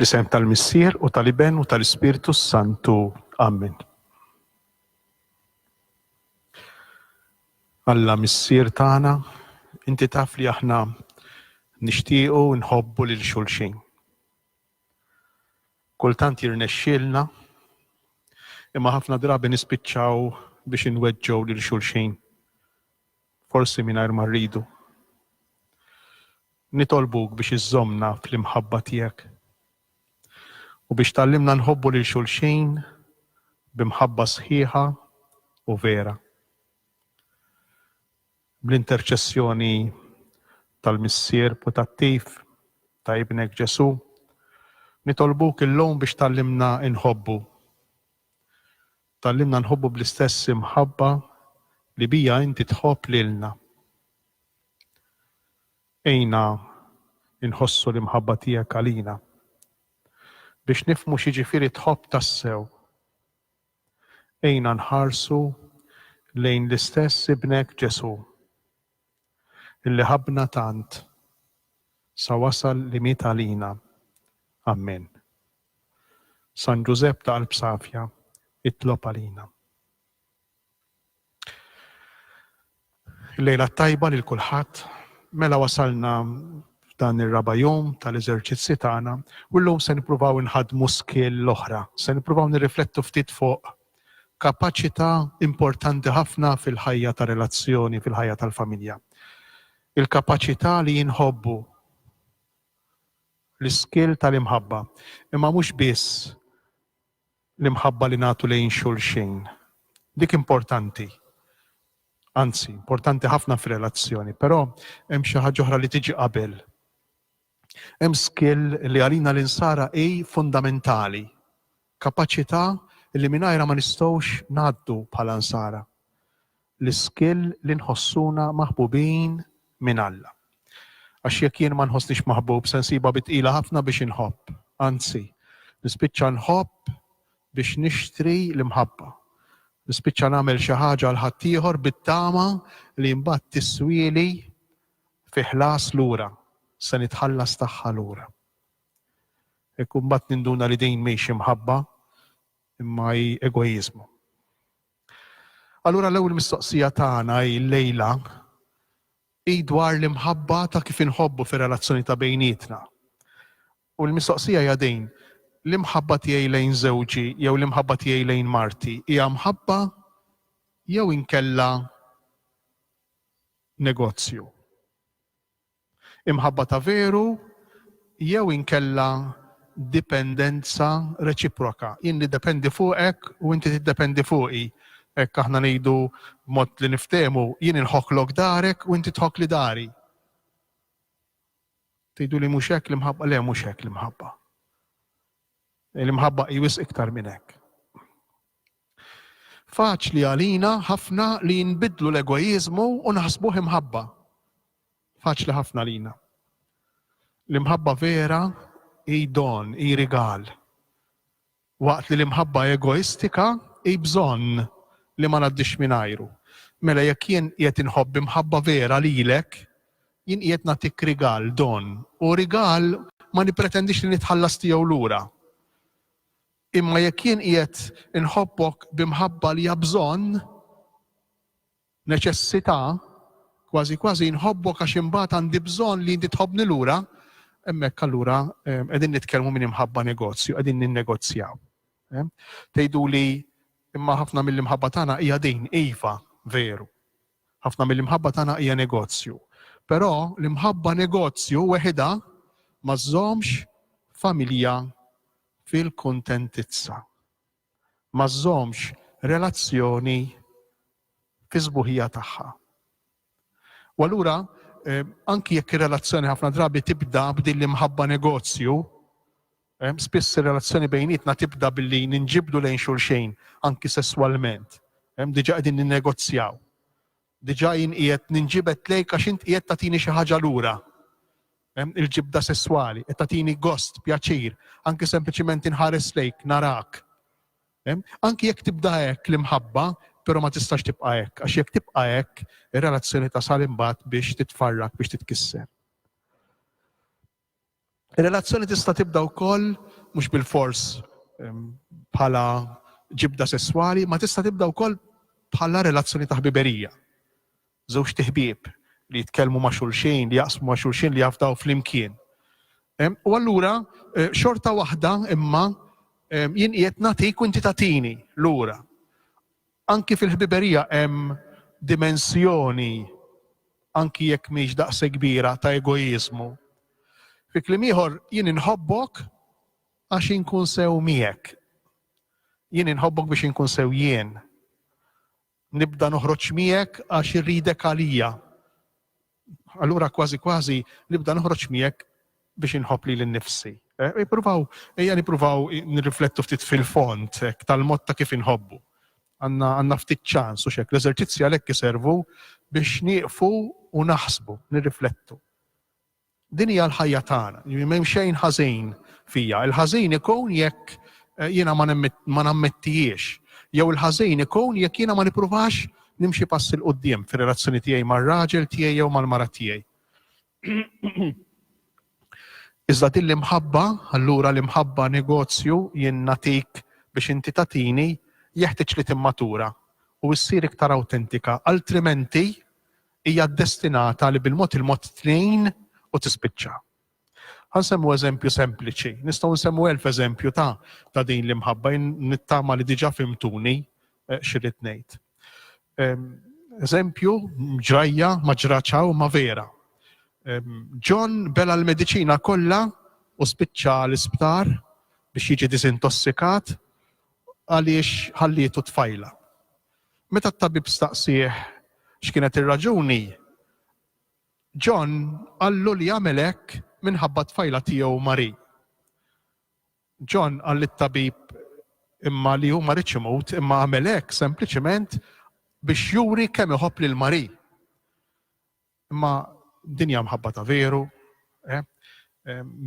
Fl-isem tal-Missier u tal-Iben u tal-Ispirtu Santu. Amen. Alla Missier tagħna, inti taf li aħna nixtiequ nħobbu lil xulxin. Kultant jirnexxielna imma ħafna drabi nispiċċaw biex inweġġgħu lil xulxin Forsi mingħajr ma rridu. Nitolbuk biex iżżommna fl-imħabba tiegħek u biex tgħallimna nħobbu lil xulxin bi mħabba sħiħa u vera. Bl-interċessjoni tal-Missier putattiv ta' Ibnek Ġesù, nitolbuk illum biex tgħallimna nħobbu Tgħallimna nħobbu bl-istess imħabba li biha inti tħobb lilna. Għinna nħossu l-imħabba tiegħek għalina, biex nifhmu x'jiġifieri tħobb tassew. Għinna nħarsu lejn l-istess Ibnek Ġesù. Illi ħabbna tant sa wasal li miet għalina. Ammen. San Ġużepp ta' qalb safja, itlob għalina. Il-lejla t-tajba lil kulħadd, mela wasalna f'dan ir-raba' jum tal-eżerċizzi tagħna u llum se nippruvaw inħaddmu skill l-oħra, se nippruvaw nirriflettu ftit fuq kapaċità importanti ħafna fil-ħajja ta' relazzjoni, fil-ħajja tal-familja. Il-kapaċità li jinħobbu, l-iskill tal-imħabba, imma mhux biss l-imħabba li nagħtu lejn xulxin. Dik importanti, anzi, importanti ħafna fir-relazzjoni, però hemm xi ħaġa oħra li tiġi qabel. Hemm skill li għalina l-Insara hi fundamentali, kapaċità li mingħajrha ma nistgħux ngħaddu bħala Nsara, l-iskill li nħossuna maħbubin minn Alla. Għax jekk jien ma nħossnix maħbub se nsibha bi tqila ħafna biex inħobb, anzi, nispiċċa nħobb biex nixtri l-imħabba. Nispiċċa nagħmel xi ħaġa għal ħaddieħor bit-tama li mbagħad tiswieli Fi ħlas lura, se nitħallas tagħha lura. Hekk imbagħad ninduna li din mhix imħabba imma hi egoiżmu. Allura l-ewwel mistoqsija tagħna hi llejla hi dwar l-imħabba ta' kif inħobbu fir-relazzjoni ta' bejnietna. U l-mistoqsija hija din, l-imħabba tiegħi lejn żewġi jew l-imħabba tiegħi lejn marti hija mħabba jew inkella negozju. Imħabba ta' veru jew inkella dipendenza reċiproka, jien niddependi fuqek u inti tiddependi fuqi, hekk aħna ngħidu b'mod li niftehmu, jien inħokklok darek u inti tħokkli dari. Tgħiduli mhux hekk l-imħabba? Le mhux hekk l-imħabba. L-imħabba hi wisq iktar minn hekk. Faċli għalina ħafna li nbiddlu l-egoiżmu u naħsbuh imħabba. Faċli ħafna għalina. L-imħabba vera hi don, hi rigal. Waqt li l-imħabba egoistika hi bżonn li ma ngħaddix mingħajru. Mela jekk jien qiegħed inħobb imħabba vera lilek, jien qiegħed nagħtik rigal, don. U rigal ma nippretendix li nitħallas tiegħu lura. Imma jekk jien qiegħed inħobbok bi mħabba li hija bżonn, neċessità, kważi kważi nħobbok għax imbagħad għandi bżonn li inti tħobbni lura, hemmhekk allura qegħdin nitkellmu minn imħabba negozju, qegħdin ninnegozjaw. Tgħiduli imma ħafna mill-imħabba tagħna hija din, iva, veru. Ħafna mill-imħabba tagħna hija negozju. Però l-imħabba negozju weħidha ma żżommx familja fil-kuntentizza. Ma żżommx relazzjoni fis-sbuħija tagħha. U allura, anki jekk ir-relazzjoni ħafna drabi tibda b'dil-imħabba negozju, spiss ir-relazzjoni bejnietna tibda billi ninġibdu lejn xulxejn, anki sesswalment. Diġà qegħdin ninnegozjaw. Diġà jien qiegħed ninġibed lejk għax int qiegħed tagħtini xi ħaġa lura. Hemm il-ġibda sesswali, qed tagħtini gost, pjaċir, anki sempliċiment inħares lejk, narak. Hemm? Anki jekk tibda hekk l-imħabba, però ma tistax tibqa' hekk, għax jekk tibqa' hekk, ir-relazzjoni tasal imbagħad biex titfarrak, biex titkisser. Ir-relazzjoni tista' tibda wkoll mhux bilfors bħala ġibda sesswali, ma tista' tibda wkoll bħala relazzjoni ta' ħbiberija. Żewġ tiħbieb li jitkellmu ma' xulxin, li jaqsmu ma' xulxin li jafdaw flimkien. U allura eh, xorta waħda imma jien qiegħed nagħtik u inti tagħtini lura. Anki fil-ħbiberija hemm dimensjoni, anki jekk mhix daqshekk kbira, ta' egoiżmu. Fi kliem ieħor, jien inħobbok għax inkun sew miegħek. Jien inħobbok biex inkun sew jien. Nibda noħroġ miegħek għax irridek għalija. Allura kważi kważi nibda noħroġ miegħek biex inħobb lili nnifsi. Eh, ippruvaw, ejja nippruvaw nirriflettu ftit fil-fond tal-mod ta' kif inħobbu. Għandna ftit ċans u xek, l-eżerċizzi għalhekk iservu biex nieqfu u naħsbu, nirriflettu. Din hija l-ħajja tagħna, m'hemm xejn ħażin fija. Il-ħażin ikun jekk eh, jiena ma nammettijiex, jew il-ħażin ikun jekk jiena ma nippruvax Nimxi pass 'il quddiem fir-relazzjoni tiegħi mar-raġel tiegħi jew mal-mara tiegħi. Iżda din l-imħabba, allura l-imħabba negozju jien nagħtik biex inti tagħtini, jeħtieġ li timmatura u ssir iktar awtentika, altrimenti hija ddestinata li bil-mod il-mod tnejn u tispiċċa. Ħa nsemmu eżempju sempliċi. Nistgħu nsemmu elf eżempju ta' ta' din l-imħabba nittama li diġà fimtuni eh, xirrid ngħid. Ehm, eżempju, ġrajja ma ġraċaw ma vera. Ehm, John bela l-medicina kollha u spiċċa l-isptar biex jiġi disintossikat għaliex ħallietu tfajla. Meta t-tabib staqsieħ x'kienet ir-raġuni, John qallu li għamel hekk minħabba t-tfajla tiegħu Marie. John qal lit-tabib imma li hu ma riedx imut imma għamel hekk sempliċement biex juri kemm iħobb lil Marie. Imma din hija mħabba ta' veru, eh?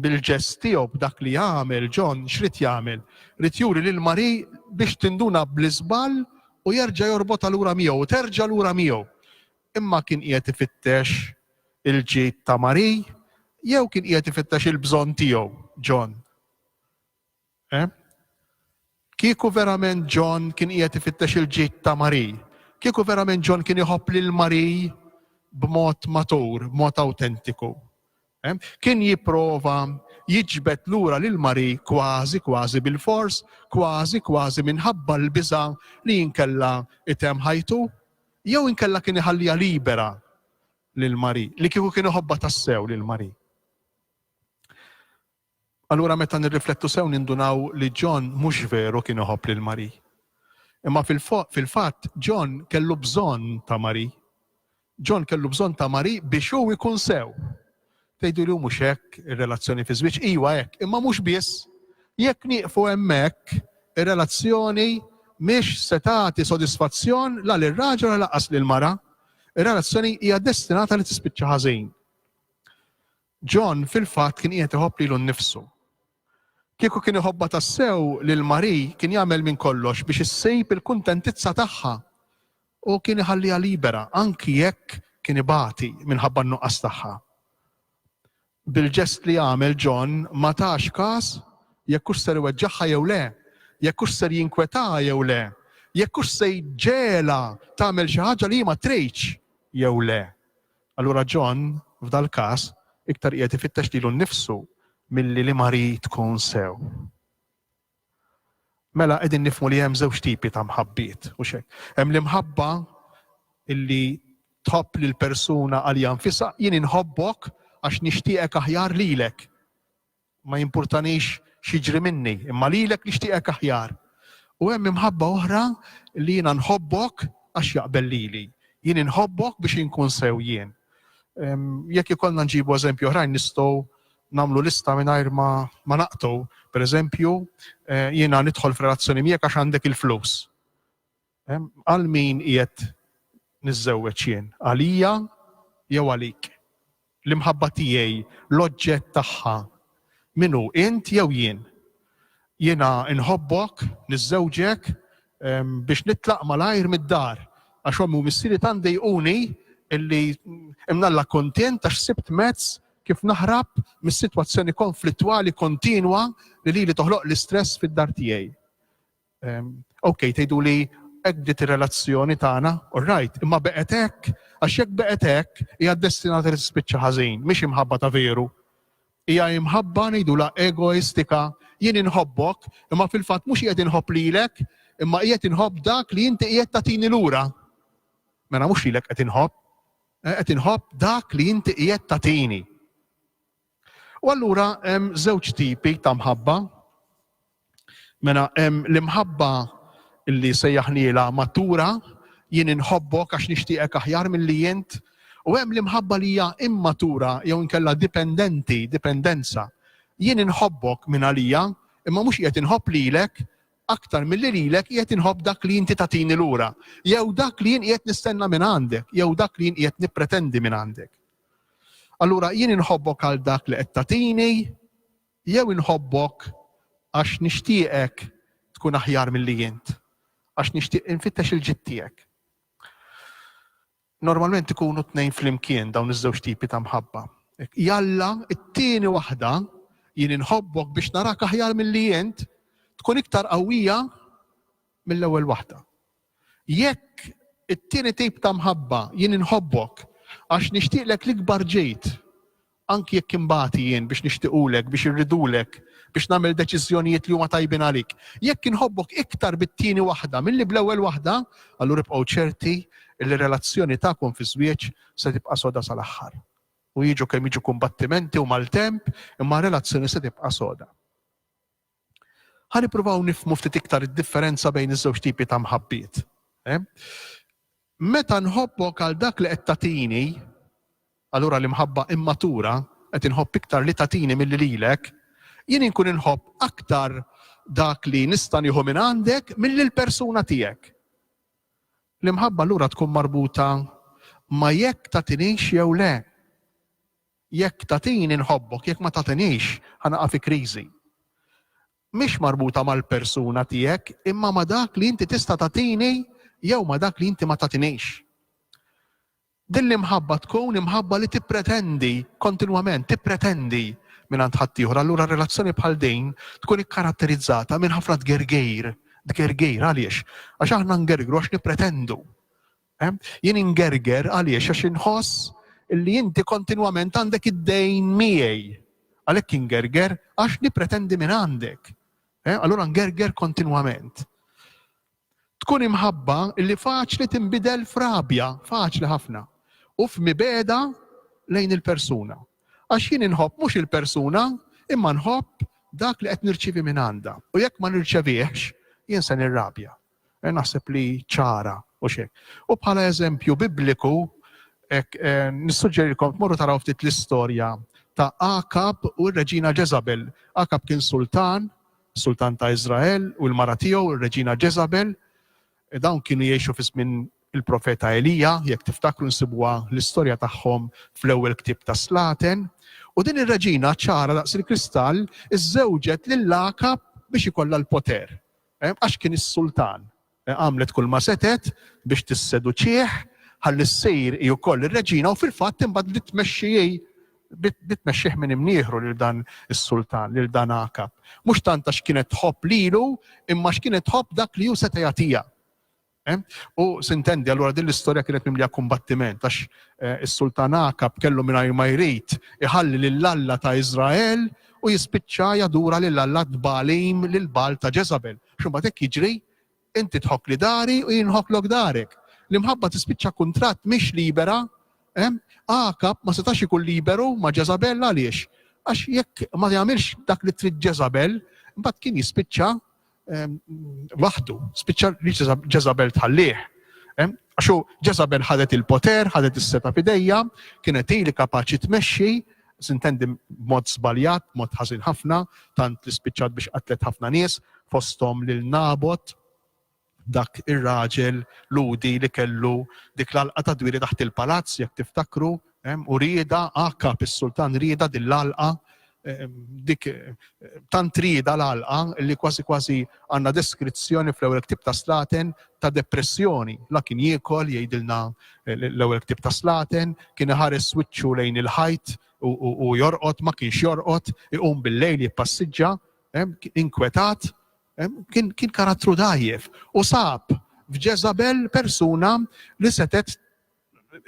bil-ġest tiegħu b'dak li għamel John x'rid jagħmel? Rid juri lil Marie biex tinduna bl-iżball u jerġa' jorbotha lura miegħu, terġa' lura miegħu. Imma kien qiegħed ifittex il-ġid ta' Marie jew kien qiegħed ifittex il-bżonn tiegħu, John? Eh? Kieku verament John kien qiegħed ifittex il-ġid ta' Marie, kieku verament John kien iħobb lil Marie b'mod matur, b'mod awtentiku, Kien jipprova jiġbed lura lil Marie kważi kważi bilfors, kważi kważi minħabba l-biża' li inkella itemm ħajtu, jew inkella kien iħalliha libera lil Marie, li kieku kien iħobbha tassew lil Marie. Allura meta nirriflettu sew nindunaw li John mhux veru kien iħobb lil Marie. Imma fil-fatt John kellu bżonn ta' Marie. John kellu bżonn ta' Marie biex hu jkun sew. Tgħiduli hu mhux hekk ir-relazzjoni fiż-żwieġ? Iwa hekk, imma mhux biss. Jekk nieqfu hemmhekk, ir-relazzjoni mhix se tagħti sodisfazzjon la lir-raġel u la lanqas lill-mara. Ir-relazzjoni hija destinata li tispiċċa ħażin. John fil-fatt kien qiegħed iħobb lilu nnifsu. Kieku kien iħobbha tassew lil Marie kien jagħmel minn kollox biex issib il-kuntentizza tagħha u kien iħalliha libera anki jekk kien ibati minħabba n-nuqqas tagħha. Bil-ġest li għamel John ma tax każ jekk hux ser iweġġagħha jew le, jekk hux ser jinkwetaha jew le, jekk hux se jġegħelha tagħmel xi ħaġa li hi ma tridx jew le. Allura John, f'dal-każ, iktar qiegħed ifittex lilu nnifsu milli li Marie tkun sew. Mela qegħdin nifhmu li hemm żewġ tipi ta' mħabbiet, hux hekk? Hemm l-imħabba illi tħobb lil persuna għalija nfisha, jien inħobbok għax nixtieqek aħjar lilek. Ma jimpurtanix x'jiġri minni, imma lilek nixtieqek aħjar. U hemm imħabba oħra li jiena nħobbok għax jaqbel lili. Jien inħobbok biex inkun sew jien. Jekk ikollna nġibu eżempji oħrajn nistgħu nagħmlu lista mingħajr ma, ma naqtu. Per eżempju, eh, jiena nidħol f'relazzjoni miegħek għax għandek il-flus. Għal min qiegħed niżżewweġ jien? Għalija jew għalik? L-imħabba tiegħi, l-oġġett tagħha, min hu, int jew jien? Jiena nħobbok, niżżewġek biex nitlaq malajr mid-dar għax ommi u missieri tant dejquni illi imnalla kontent għax sibt mezz kif naħrab mis-sitwazzjoni konflittwali kontinwa li li toħloq l-istress fid-dar tiegħi. Ok, tgħiduli hekk bdiet ir-relazzjoni tagħna, all right, imma beqgħet hekk, għax jekk beqgħet hekk hija destinata li tispiċċa ħażin, mhix imħabba ta' veru. Hija imħabba ngħidulha egoistika, jien inħobbok, imma fil-fatt mhux qiegħed inħobb lilek, imma qiegħed inħobb dak li inti qiegħed tagħtini lura. Mela mhux lilek qed inħobb, eh, qed inħobb dak li inti qiegħed tagħtini. U allura hemm żewġ tipi ta' mħabba. Mela hemm l-imħabba li sejjaħniela matura, jien inħobbok għax nixtieqek aħjar milli int, u hemm l-imħabba li hija immatura jew inkella dipendenti, dipendenza. Jien inħobbok minn għalija, imma mhux qiegħed inħobb lilek aktar milli lilek qiegħed inħobb dak li inti tagħtini lura, jew dak li jien qiegħed nistenna minn għandek, jew dak li jien qiegħed nippretendi minn għandek. Allura jien inħobbok għal dak li qed tagħtini jew inħobbok għax nixtieqek tkun aħjar milli int, għax nixtieq infittex il-ġid tiegħek. Normalment ikunu tnejn flimkien dawn iż-żewġ tipi ta' mħabba. Jalla, it-tieni waħda jien inħobbok biex narak aħjar milli int tkun iktar qawwija mill-ewwel waħda. Jekk it-tieni tip ta' mħabba, jien inħobbok għax nixtieqlek l-ikbar ġid, anki jekk inbati jien biex nixtiqulek, biex irridulek, biex nagħmel deċiżjonijiet li huma tajbin għalik. Jekk inħobbok iktar bit-tieni waħda milli bl-ewwel waħda, allura ibqgħu ċerti li r-relazzjoni tagħkom fiż-żwieġ se tibqa' soda sal-aħħar. U jiġu kemm jiġu kumbattimenti u maltemp, imma r-relazzjoni se tibqa' soda. Ħa nippruvaw nifhmu ftit iktar id-differenza bejn iż-żewġ tipi ta' mħabbiet. Meta nħobbok għal dak li qed tagħtini, allura l-imħabba immatura, qed inħobb iktar li tagħtini milli lilek, jien inkun inħobb aktar dak li nista' nieħu minn għandek milli l-persuna tiegħek. L-imħabba allura tkun marbuta ma' jekk tagħtinix jew le. Jekk tagħtini nħobbok, jekk ma tagħtinix ħa naqa' fi kriżi. Mhix marbuta mal-persuna tiegħek imma ma' dak li inti tista' tagħtini jew ma' dak li inti ma tagħtinix. Din l-imħabba tkun imħabba li tippretendi kontinwament, tippretendi mingħand ħaddieħor. Allura relazzjoni bħal din tkun ikkaratterizzata minn ħafna tgergir, tgergir għaliex? Għax aħna ngergru għax nippretendu. Ehm, jien ingerger għaliex għax inħoss li inti kontinwament għandek id-dejn miegħi. Għalhekk ingerger għax nippretendi minn għandek. Ehm, allura ngerger kontinwament. Tkun imħabba li faċli tinbidel frabja, faċli ħafna, u f'mibeda lejn il-persuna. Għax jien inħobb mhux il-persuna, imma nħobb dak li qed nirċivi minn għandha. U jekk ma nirċevihx, jien se nirrabja. Eh, naħseb li ċara u xek. U bħala eżempju bibliku, eh, nissuġġerilkom tmorru taraw ftit l-istorja ta' Akab u r-Reġina Jezabel. Akab kien sultan, sultan ta' Izrael u l-mara tiegħu r-Reġina Jezabel. Eh, dawn kienu jgħixu fi żmien il-profeta Elija, jekk tiftakru nsibuha l-istorja tagħhom fl-ewwel ktib ta' Slaten. U din ir-reġina ċara daqs il-kristall iżżewġet lil Akab biex ikollha l-poter. Għax kien is-sultan. Għamlet kulma setgħet biex tisseduċih ħalli ssir hi wkoll ir-reġina u fil-fatt imbagħad bdiet tmexxi hi bdiet tmexxih minn imnieħru lil dan is-sultan, lil dan Għakab. Mhux tant għax kienet tħobb lilu imma għax kienet tħobb dak li hu seta' jagħtiha. U sintendi, allura din l-istorja kienet mimlija kumbattiment, għax is-Sultan Akab kellu mingħajr ma jrid iħalli lil Alla ta' Iżrael u jispiċċa jadura lil alla t-Tbagħalim, lil Bagħal ta' Ġeżabel. Għax imbagħad hekk jiġri, inti tħokkli dari u jien nħokklok darek. L-imħabba tispiċċa kuntratt mhix libera. Akab ma setax ikun liberu ma' Ġeżabel għaliex? Għax jekk ma jagħmilx dak li trid Ġeżabel, imbagħad kien jispiċċa waħdu, spiċċa li Ġeżabel tħallih. Għaxu Ġeżabel ħadet il-poter, ħadet is-seta fidejja, kienet hi li kapaċi tmexxi, sintendi mod żbaljat, mod ħażin ħafna, tant li spiċċat biex qatlet ħafna nies, fosthom lil Nabot, dak ir-raġel ludi li kellu dik l-alqa ta' dwiri taħt il-palazz, jekk tiftakru, Hemm u rieda għakab is-Sultan rieda din l-għalqa dik tant rieda l-għalqa li kważi kważi għandna deskrizzjoni fl-ewwel ktib ta' Slaten ta' depressjoni. La kien jiekol jgħidilna l-ewwel ktib ta' Slaten, kien iħares wiċċu lejn il-ħajt u jorqod ma kienx jorqod, iqum bil-lejl jippassiġġa, inkwetat, kien karattru dajjef u sab f'Ġeżabel persuna li setet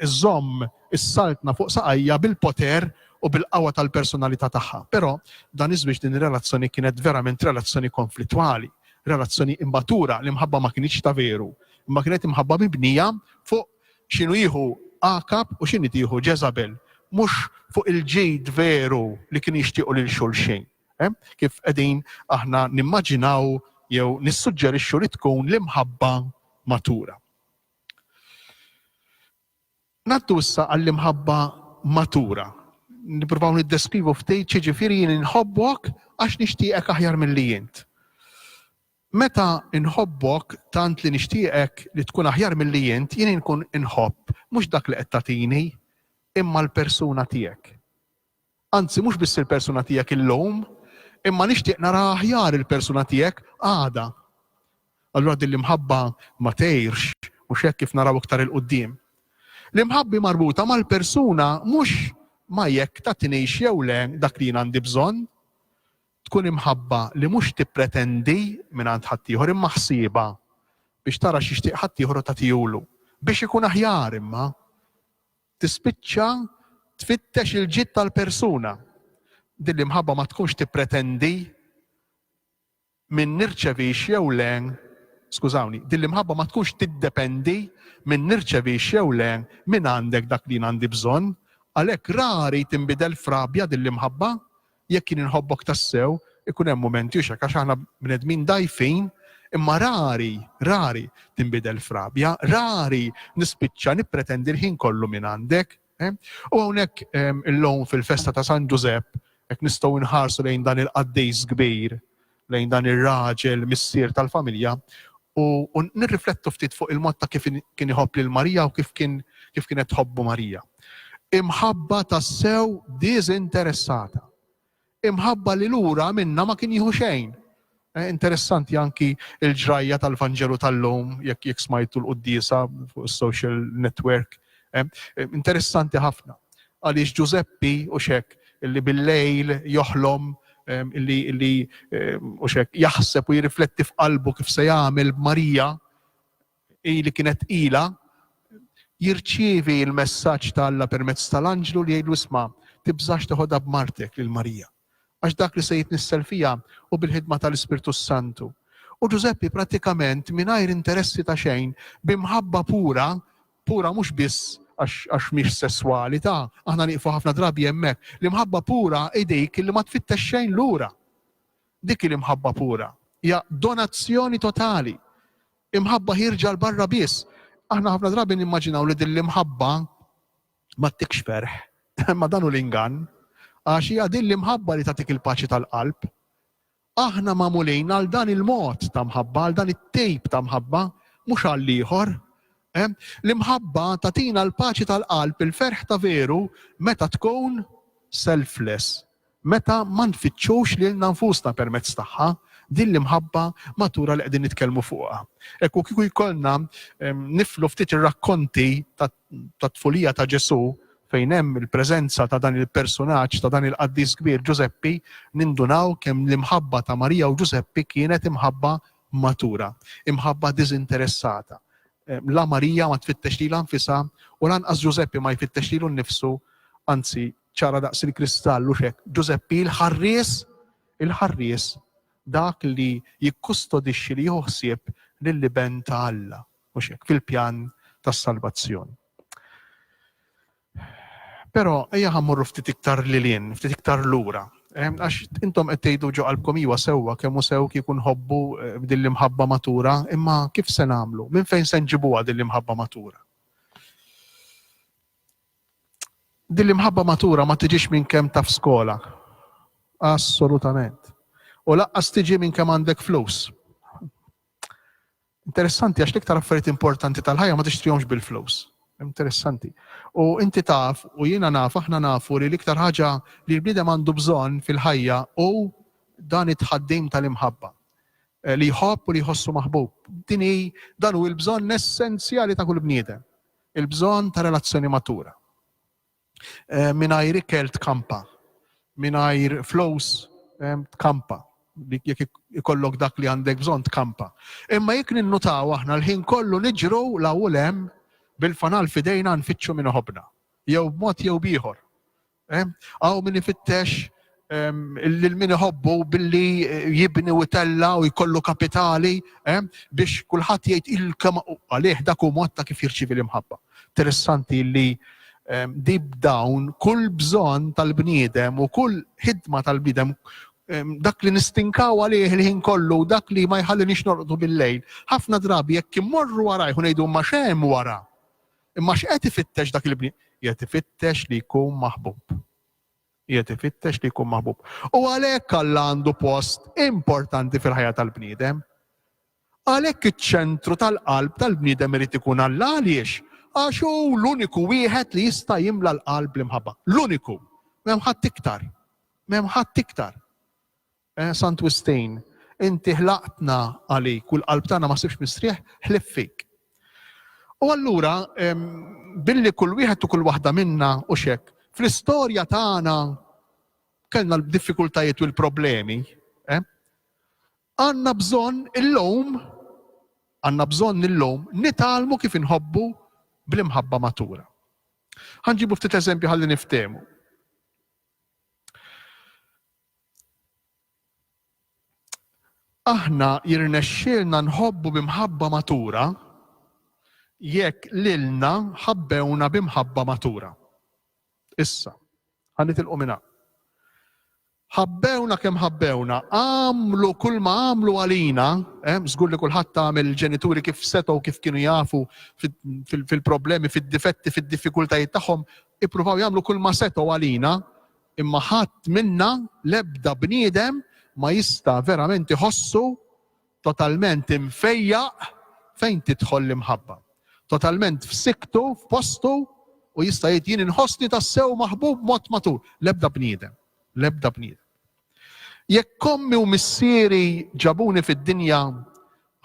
iżżomm is-Saltna fuq saqajha bil-poter u bil-qawwa tal-personalità tagħha. Però, dan iż-żwieġ, din ir-relazzjoni kienet verament relazzjoni konflittwali, relazzjoni immatura. L-imħabba ma kinitx ta' veru, imma kienet imħabba mibnija fuq x'inhu jieħu Aħab u x'inhi tieħu Ġeżabel, mhux fuq il-ġid veru li kienu jixtiequ lil xulxin, kif qegħdin aħna nimmaġinaw jew nissuġġerixxu li tkun l-imħabba matura. Ngħaddu issa għall-imħabba matura. Nippruvaw niddeskrivu ftit xiġifieri jien inħobbok għax nixtieqek aħjar milli int. Meta inħobbok tant li nixtieqek li tkun aħjar milli int, jien inkun inħobb mhux dak li qed tagħtini, imma l-persuna tiegħek. Anzi mhux biss il-persuna tiegħek illum, imma nixtieq nara aħjar il-persuna tiegħek għada. Allura din l-imħabba ma tgħirx, mhux hekk kif naraw iktar 'il quddiem. L-imħabbi marbuta mal-persuna mhux ma' jekk tagħtinix jew le dak li jien għandi bżonn. Tkun imħabba li mhux tippretendi mingħand ħaddieħor imma ħsiebha biex tara x'jixtieq ħaddieħor u tagħtihulu. Biex ikun aħjar imma. Tispiċċa tfittex il-ġid tal-persuna. Din l-imħabba ma tkunx tippretendi min nirċevix jew le, skużawni, din l-imħabba ma tkunx tiddependi min nirċevix jew le minn għandek dak li jien għandi bżonn, għalhekk rari tinbidel f'rabja din l-imħabba, Jekk jien inħobbok tassew, ikun hemm mumenti u x'hekk għax aħna bnedmin dgħajfin, imma rari, rari tinbidel f'rabja, rari nispiċċa nippretendi l-ħin kollu minn għandek. U hawnhekk illum fil-festa ta' San Ġużepp, jekk nistgħu nħarsu lejn dan il-qaddejs kbir, lejn dan ir-raġel missier tal-familja u nirriflettu ftit fuq il-mod ta' kif kien iħobb lil Marija u kif kien kif kienet tħobbu Marija. Imħabba tassew diżinteressata. Imħabba li lura minna ma kien jieħu xejn. Eh, interessanti anki il-ġrajja tal-Vanġelu tal-lum, jekk jekk smajtu l-qoddisa fuq social network. Eh, eh, interessanti ħafna. Għaliex Ġużeppi, hux hekk, li bil-lejl joħlom, li, li, hux hekk, jaħseb u jirrifletti f'qalbu kif se jagħmel b'Marija, hi li kienet tqila, jirċievi l-messaġġ ta' Alla permezz tal-anġlu li jgħidlu, Isma', tibżax teħodha b'martek lil Marija, għax dak li se jitnissel fiha hu bil-ħidma tal-Ispirtu s-Santu. U Ġużeppi prattikament, mingħajr interessi ta' xejn, b'imħabba pura, Pura mhux biss għax mhix sesswalità, aħna nieqfu ħafna drabi hemmhekk. L-imħabba pura hi dik li ma tfittex xejn lura. Dik hi l-imħabba pura. Hija donazzjoni totali. Imħabba hi rġal barra biss. Aħna ħafna drabi nimmaġinaw li din l-imħabba ma tikx ferħ. Ma dan hu l-ingann. Għax hija din l-imħabba li tagħtik il-paċi tal-qalb. Aħna magħmulin għal dan il-mod ta' mħabba, għal dan it-tip ta' mħabba, mhux għall-ieħor. L-imħabba tagħtina l-paċi tal-qalb, il-ferħ ta' veru meta tkun selfless, meta ma nfittxux lilna nfusna permezz tagħha, din l-imħabba matura li qegħdin nitkellmu fuqha. Hekk u kieku jkollna niflu ftit ir-rakkonti tat-tfulija ta' Ġesù fejn hemm il-preżenza ta' dan il-persunaġġ ta' dan il-qaddis kbir Ġużeppi nindunaw kemm l-imħabba ta' Marija u Ġużeppi kienet imħabba matura, imħabba diżinteressata. La Marija ma tfittex lilha nfisha u lanqas Ġużeppi ma jfittex lilu nnifsu, anzi ċara daqs il-kristall u x'hekk Ġużeppi l-ħarries il-ħarries dak li jikkustodixxi li jieħu ħsieb lill-iben ta' Alla. Mhux hekk, fil-pjan tas-salvazzjoni. Però ejja ħa mmorru ftit iktar lil hinn, ftit iktar lura. Ehm, għax intom qed tgħidu ġo qalbkom iwa sewwa kemm hu sew kieku nħobbu eh, din l-imħabba matura, imma kif se nagħmlu? Minn fejn se nġibuha din l-imħabba matura? Din l-imħabba matura ma tiġix minn kemm taf skola. Assolutament. U laqqas tiġi minn kemm għandek flus. Interessanti għax l-iktar affarijiet importanti tal-ħajja ma tixtrihomx bil-flus. Interessanti. U inti taf, u jiena naf, aħna nafu li l-iktar ħaġa li l-bniedem għandu bżonn fil-ħajja u dan it-tħaddim tal-imħabba. Eh, li jħobb u li jħossu maħbub. Din hi dan hu l-bżonn essenzjali ta' kull bniedem. Il-bżonn ta' relazzjoni matura. Eh, mingħajr ikel tkampa, mingħajr flows eh, tkampa jekk ikollok dak li għandek bżonn tkampa. Imma jekk ninnutaw aħna l-ħin kollu niġru la ulem bil-fanal fidejna nfittxu minn ħobna. Jew b'mod jew bieħor. Għaw eh, min ifittex lil min iħobbu billi eh, jibni u tella u jkollu kapitali eh, biex kulħadd jgħid il-kem għalih dak u mod ta' kif jirċivi l-imħabba. Interessanti li eh, dib dawn kull bżonn tal-bniedem u kull ħidma tal-bniedem dak li nistinkaw għalih il-ħin kollu, dak li ma jħalli nix norqdu bil-lejl. ħafna drabi jekk immorru wara jħun jgħidu ma xem wara. Imma x'qed ifittex dak il-bniedem? Jgħid ifittex li jkun maħbub. Qiegħed ifittex li jkun maħbub. U għalhekk Alla għandu post importanti fil-ħajja tal-bniedem. Għalhekk iċ-ċentru tal-qalb tal-bniedem irid ikun Alla. Għaliex? Għax hu l-uniku wieħed li jista' jimla l-qalb bl-imħabba. L-uniku. M'hemm ħadd iktar. M'hemm ħadd iktar. Eh, Sant Wistin, inti ħlaqtna għalik u l-qalb tagħna ma sibx mistrieħ ħlief fik. U allura billi kull wieħed u kull waħda minna u xek, fl-istorja tagħna kellna l-diffikultajiet u l-problemi, eh, għanna bżonn illum għanna bżonn illum nitalmu kif inħobbu bl-imħabba matura. Ħanġibu ftit eżempju ħalli niftemu. Aħna jirnexxielna nħobbu bi mħabba matura jekk lilna ħabbewna bi mħabba matura. Issa, ħa nitilqu minn hawn. Ħabbewna kemm ħabbewna, għamlu kull ma għamlu għalina, eh, żgur li kulħadd tagħmel il-ġenituri kif setgħu kif kienu jafu fil-problemi, fid-difetti, fid-diffikultajiet tagħhom, ippruvaw jagħmlu kull ma setgħu għalina, Imma ħadd minna, l-ebda bniedem, ma jista' verament iħossu totalment imfejjaq fejn tidħol l-imħabba. Totalment f'sikktu, f'postu, u jista' jgħid, Jien inħossni tassew maħbub b'mod matur. L-ebda bniedem. L-ebda bniedem. Jekk ommi u missieri ġabuni fid-dinja,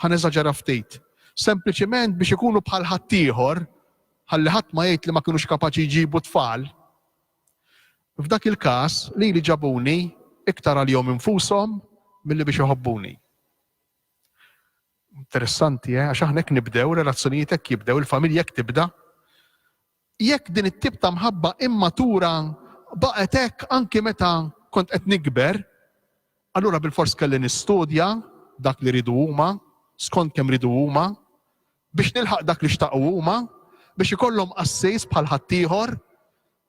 ħa neżaġera ftit, sempliċiment biex ikunu bħal ħaddieħor, ħalli ħadd ma jgħid li ma kinux kapaċi jġibu tfal, F'dak il-każ, lili ġabuni iktar għalihom infushom milli biex iħobbuni. Interessanti, eh? Għax aħna hekk nibdew, relazzjonijiet hekk jibdew, il-familja hekk tibda. Jekk din it-tip ta' mħabba immatura baqgħet hekk anki meta kont qed nikber, allura bil-fors kelli nistudja dak li ridu huma, skont kemm ridu huma, Biex nilħaq dak li xtaqu huma, biex ikollhom qassis bħal ħaddieħor,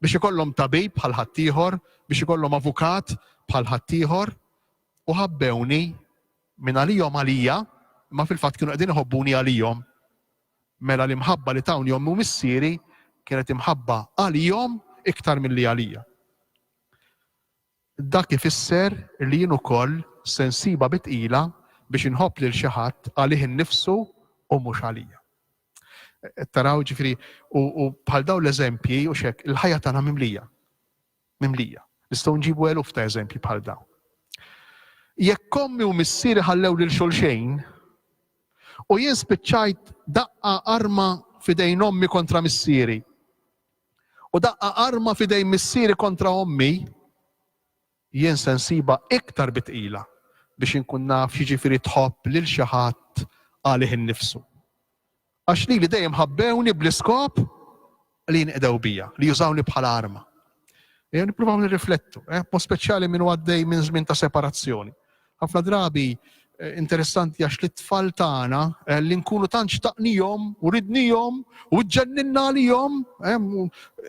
biex ikollhom tabib bħal ħaddieħor, biex ikollhom avukat bħal ħaddieħor, u ħabbewni, minn għalihom għalija, imma fil-fatt kienu qegħdin iħobbuni għalihom. Mela l-imħabba li tawni ommi u missieri kienet imħabba għalihom iktar milli għalija. Dak ifisser li jien ukoll se nsibha bi tqila biex inħobb lil xi ħadd għalih innifsu u mhux għalija. Qed taraw? Jiġifieri, u bħal dawn l-eżempji, hux hekk, il-ħajja tagħna mimlija. Mimlija. Nistgħu nġibu eluf ta' eżempji bħal dawn. Jekk ommi u missieri ħallew lil xulxejn, u jien spiċċajt daqqa arma f'idejn ommi kontra missieri, u daqqa arma f'idejn missieri kontra ommi, jien se nsibha iktar bi tqila biex inkun naf x'jiġifieri tħobb lil xi ħadd għalih innifsu. Għax lili dejjem ħabbewni bl-iskop li jinqdew bija, li jużawni bħala arma. Ejjew nippruvaw nirriflettu, eh, b'mod speċjali min huwa għaddej minn żmien ta' separazzjoni. Ħafna drabi interessanti għax li t-tfal tagħna eh, li nkunu tant xtaqnihom u ridnihom u ġġenninna għalihom eh,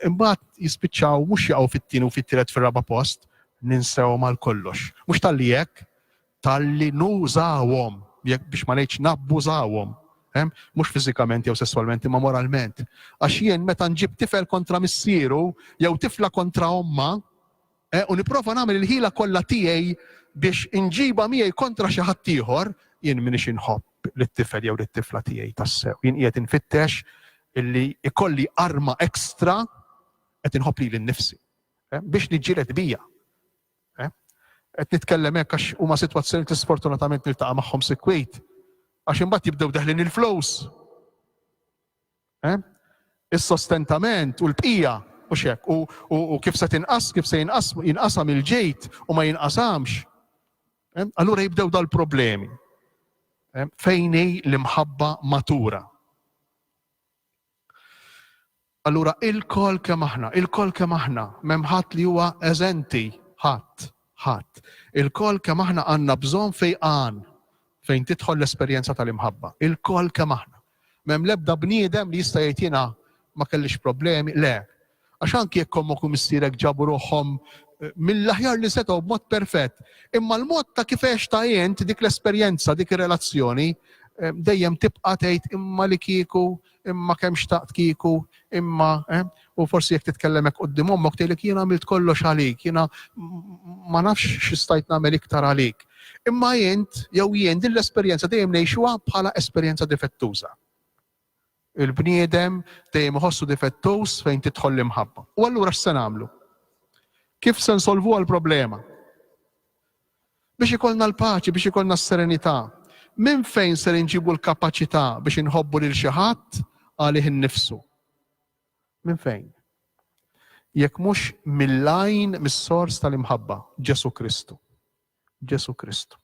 imbagħad jispiċċaw mhux jaqgħu fit-tieni u fit-tielet fir-raba' post ninsew mal kollox. Mhux tal-li hekk, tal-li nużawhom biex ma ngħidx nabbużawhom. Eh, mhux fiżikament jew sesswalment imma moralment. Għax jien meta nġib tifel kontra missieru jew tifla kontra omma, u nipprova nagħmel il-ħila kollha tiegħi biex inġibha miegħi kontra xi ħadd ieħor, jien m'iniex inħobb lit-tifel jew lit-tifla tiegħi tassew. Jien qiegħed infittex illi ikolli arma ekstra qed inħobb lili nnifsi eh, biex niġġieled bija. Eh, qed nitkellem hekk għax huma sitwazzjoni li sfortunatament niltaqa' magħhom sikwit għax imbagħad jibdew deħlin il-flows. Eh? Is-sostentament u l-bqija u xek u, u, u kif se tinqas, kif se jinqas, jinqasam il-ġejt u ma jinqasamx. Eh? Allura jibdew dal-problemi. Eh? Fejn hi l-imħabba matura. Allura il-kol kemm aħna, il-kol kemm aħna, memħat li huwa eżenti, ħadd, ħadd. Il-kol kemm aħna għandna bżonn fejqan fejn tidħol l-esperjenza tal-imħabba. Il-kol kemm aħna. M'hemm l-ebda bniedem li jista' jgħid jiena ma kellix problemi, le. Għax anki jekk ommok u missierek ġabu ruħhom mill-aħjar li setgħu b'mod perfett, imma l-mod ta' kif għextha int dik l-esperjenza, dik ir-relazzjoni, dejjem tibqa' tgħid imma li kieku, imma kemm xtaqt kieku, imma, eh. U forsi jekk titkellem hekk quddiem ommok tgħidlek jien għamilt kollox għalik, jiena ma nafx x'istajt nagħmel iktar għalik. Imma int jew jien din l-esperjenza dejjem ngħixuha bħala esperjenza difettuża. Il-bniedem dejjem iħossu difettuż fejn tidħol l-imħabba. U allura x'se nagħmlu? Kif se nsolvu għall-problema? Biex ikollna l-paċi, biex ikollna s-serenità, minn fejn ser inġibu l-kapaċità biex inħobbu lil xi ħadd għalih innifsu? Minn fejn? Jekk mhux mill-għajn, mis-sors tal-imħabba, Ġesù Kristu. Ġesù Kristu.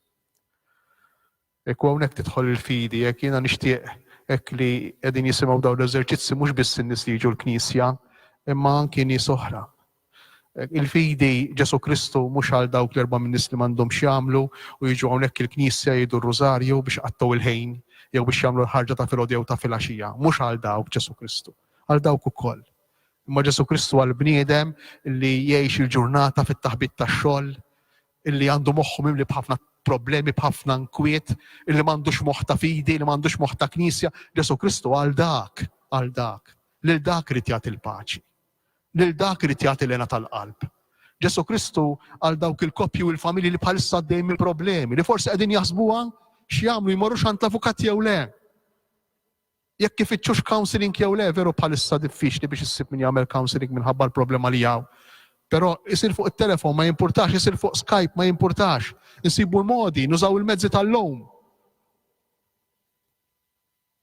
Ekku hawnhekk tidħol il-fidi, jekk jiena nixtieq hekk li qegħdin jisimgħu dawn l-eżerċizzi mhux biss in-nies li jiġu l-Knisja, imma anki nies oħra Il-fidi Ġesù Kristu mhux għal dawk l-erba' min-nies li m'għandhomx x'jagħmlu u jiġu hawnhekk il-knisja jgħidu r-rużarju biex iqattgħu l-ħin jew biex jagħmlu l-ħarġa ta' filgħodu jew ta' filgħaxija. Mhux għal dawk Ġesù Kristu. Għal dawk ukoll. Imma Ġesù Kristu għal bniedem li jgħix il-ġurnata fit-taħbit tax-xogħol, illi għandu moħħu mimli b'ħafna problemi b'ħafna nkwiet, illi m'għandux moħħ ta' fidi, li m'għandux moħħ ta' knisja, Ġesù Kristu għal dak, għal dak, lil dak irid jagħti l-paċi. lil dak irid jagħti l-hena tal-qalb. Ġesù Kristu għal dawk il-koppji u l-familji li bħalissa għaddejjin minn problemi li forsi qegħdin jaħsbuha x'jagħmlu jmorrux għand l-avukat jew le. Jekk ifittxux counseling jew le, veru bħalissa diffiċli biex issib min jagħmel counseling minħabba l-problema li hawn. Però isir fuq it-telefon ma jimpurtax, isir fuq Skype ma jimpurtax. Insibu l-modi, nużaw il-mezzi tal-lum.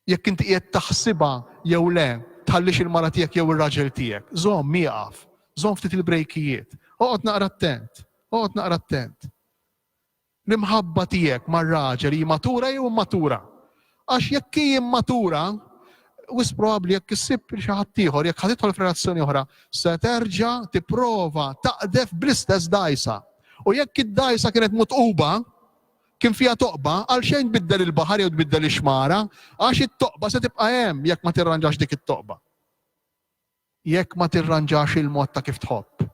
Jekk inti qiegħed taħsibha jew le, tħallix il-mara tiegħek jew ir-raġel tiegħek. Żomm, ieqaf. Żomm ftit il-brejkijiet. Oqgħod naqra attent. Oqgħod naqra attent. L-imħabba tiegħek mar-raġel hi matura jew immatura? Għax jekk hi immatura, wis probabbli jekk issib xi ħadd ieħor, jekk ħad tidħol f'relazzjoni oħra, se terġa' tipprova taqdef bl-istess dgħajsa. U jekk id-dgħajsa kienet mutquba, Kien fiha toqba, għalxejn tbiddel il-baħar jew tbiddel ix-xmara, għax it-toqba se tibqa' hemm jekk ma tirranġax dik it-toqba. Jekk ma tirranġax il-mod ta' kif tħobb.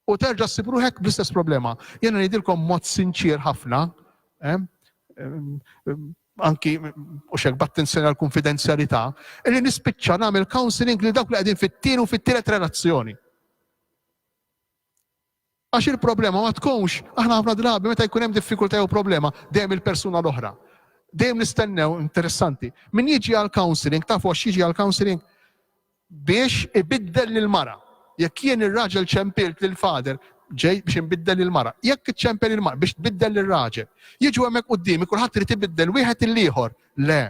U terġa' ssib ruħek bl-istess problema. Jiena ngħidilkom mod sinċier ħafna, eh, anki u xek b'attenzjoni għal konfidenzjalità, li nispiċċa nagħmel counseling li dawk li qegħdin fit-tieni u fit-tielet relazzjoni. Għax il-problema ma tkunx, aħna ħafna drabi meta jkun hemm diffikultà jew problema, dejjem il-persuna l-oħra. Dejjem nistennew, interessanti, min jiġi għal counseling, tafu għax jiġi għal counseling? Biex ibiddel lil mara. Jekk jien ir-raġel ċempilt lil fader, ġej biex inbiddel lil mara. Jekk iċċempel il mara biex tbiddel lil raġel. Jiġu hemmhekk quddiemi kulħadd irid ibiddel wieħed il-ieħor. Le.